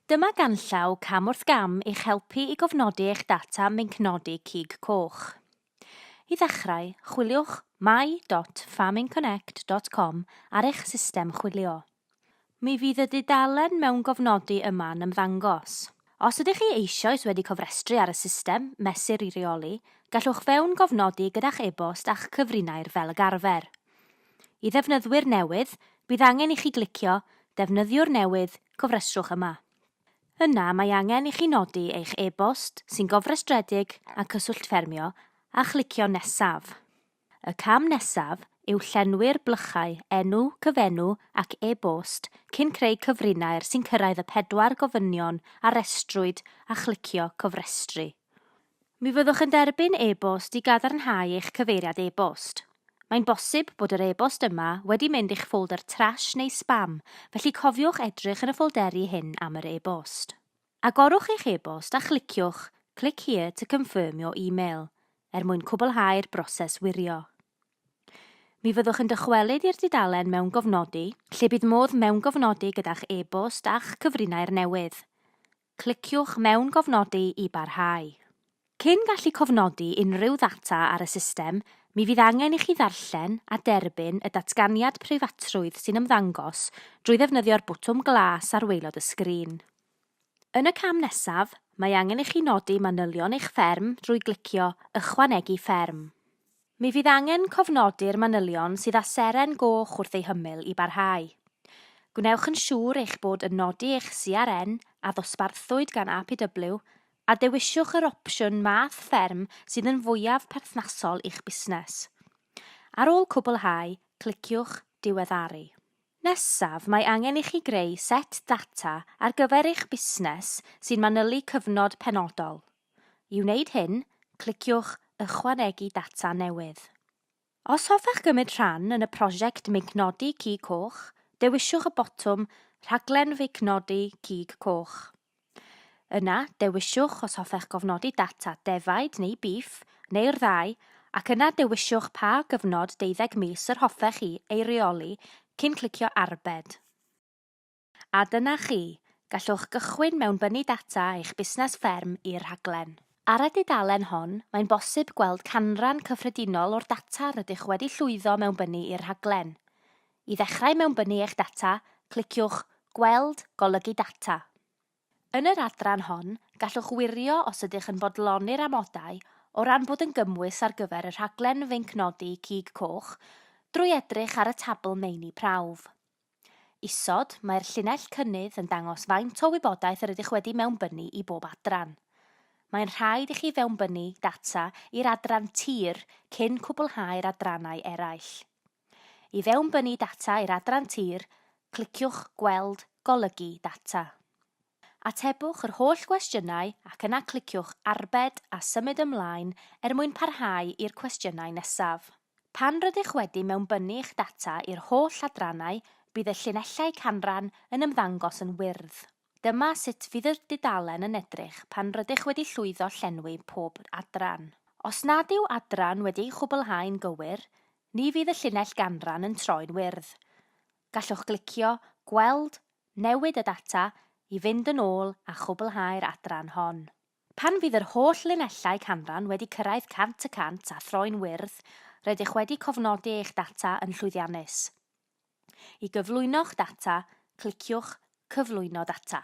Dyma ganllaw cam wrth gam i'ch helpu i gofnodi eich data minc nodi cig coch. I ddechrau, chwiliwch my.farmingconnect.com ar eich system chwilio. Mi fydd y dudalen mewn gofnodi yma yn ymddangos. Os ydych chi eisoes wedi cofrestru ar y system Mesur i Reoli, gallwch fewn gofnodi gyda'ch e-bost a'ch cyfrinair fel y garfer. I ddefnyddwyr newydd, bydd angen i chi glicio Defnyddiwr newydd, cofrestrwch yma. Yna mae angen i chi nodi eich e-bost sy'n gofrestredig a cyswllt ffermio a chlicio Nesaf. Y cam nesaf yw llenwi'r blychau enw, cyfenw ac e-bost cyn creu cyfrinair sy'n cyrraedd y pedwar gofynion a restrwyd a chlicio Cofrestru. Mi fyddwch yn derbyn e-bost i gadarnhau eich cyfeiriad e-bost. Mae'n bosib bod yr e-bost yma wedi mynd i'ch ffoldr trash neu sbam, felly cofiwch edrych yn y ffolderi hyn am yr e-bost. Agorwch eich e-bost a chliciwch Click here to confirm your email er mwyn cwblhau'r broses wirio. Mi fyddwch yn dychwelyd i'r dudalen Mewngofnodi, lle bydd modd mewngofnodi gyda'ch e-bost a'ch cyfrinair newydd. Cliciwch mewn Gofnodi i barhau. Cyn gallu cofnodi unrhyw ddata ar y system, mi fydd angen i chi ddarllen a derbyn y datganiad preifatrwydd sy'n ymddangos drwy ddefnyddio'r botwm glas ar waelod y sgrin. Yn y cam nesaf, mae angen i chi nodi manylion eich fferm drwy glicio Ychwanegu Fferm. Mi fydd angen cofnodi'r manylion sydd â seren goch wrth eu hymyl i barhau. Gwnewch yn siŵr eich bod yn nodi eich CRN a ddosbarthwyd gan APW a dewiswch yr opsiwn math fferm sydd yn fwyaf perthnasol i'ch busnes. Ar ôl cwblhau, cliciwch Diweddaru. Nesaf, mae angen i chi greu set data ar gyfer eich busnes sy'n manylu cyfnod penodol. I wneud hyn, cliciwch Ychwanegu Data Newydd. Os hoffech gymryd rhan yn y prosiect Meignodi Cig Coch, dewiswch y botwm Rhaglen Feicnodi Cig Coch. Yna, dewiswch os hoffech gofnodi data defaid neu bîff, neu'r ddau, ac yna dewiswch pa gyfnod deuddeg mis yr hoffech chi ei reoli cyn clicio Arbed. A dyna chi, gallwch gychwyn mewnbynnu data eich busnes fferm i'r rhaglen. Ar y dudalen hon, mae'n bosib gweld canran cyffredinol o'r data rydych wedi llwyddo mewnbynnu i'r rhaglen. I ddechrau mewnbynnu eich data, cliciwch Gweld, Golygu Data. Yn yr adran hon, gallwch wirio os ydych yn bodloni'r amodau o ran bod yn gymwys ar gyfer y rhaglen Feincnodi Cig Coch drwy edrych ar y tabl Meini Prawf. Isod, mae'r llinell cynnydd yn dangos faint o wybodaeth yr ydych wedi mewnbynnu i bob adran. Mae'n rhaid i chi fewnbynnu data i'r adran tir cyn cwblhau'r adrannau eraill. I fewnbynnu data i'r adran tir, cliciwch Gweld Golygu Data. Atebwch yr holl gwestiynau ac yna cliciwch Arbed a Symud Ymlaen er mwyn parhau i'r cwestiynau nesaf. Pan rydych wedi mewnbynnu eich data i'r holl adrannau, bydd y llinellau canran yn ymddangos yn wyrdd. Dyma sut fydd y dudalen yn edrych pan rydych wedi llwyddo llenwi pob adran. Os nad yw adran wedi ei chwblhau'n gywir, ni fydd y llinell ganran yn troi'n wyrdd. Gallwch glicio Gweld, Newid y Data i fynd yn ôl a chwblhau'r adran hon. Pan fydd yr holl linellau canran wedi cyrraedd 100 y cant a throi'n wyrdd, rydych wedi cofnodi eich data yn llwyddiannus. I gyflwyno'ch data, cliciwch Cyflwyno Data.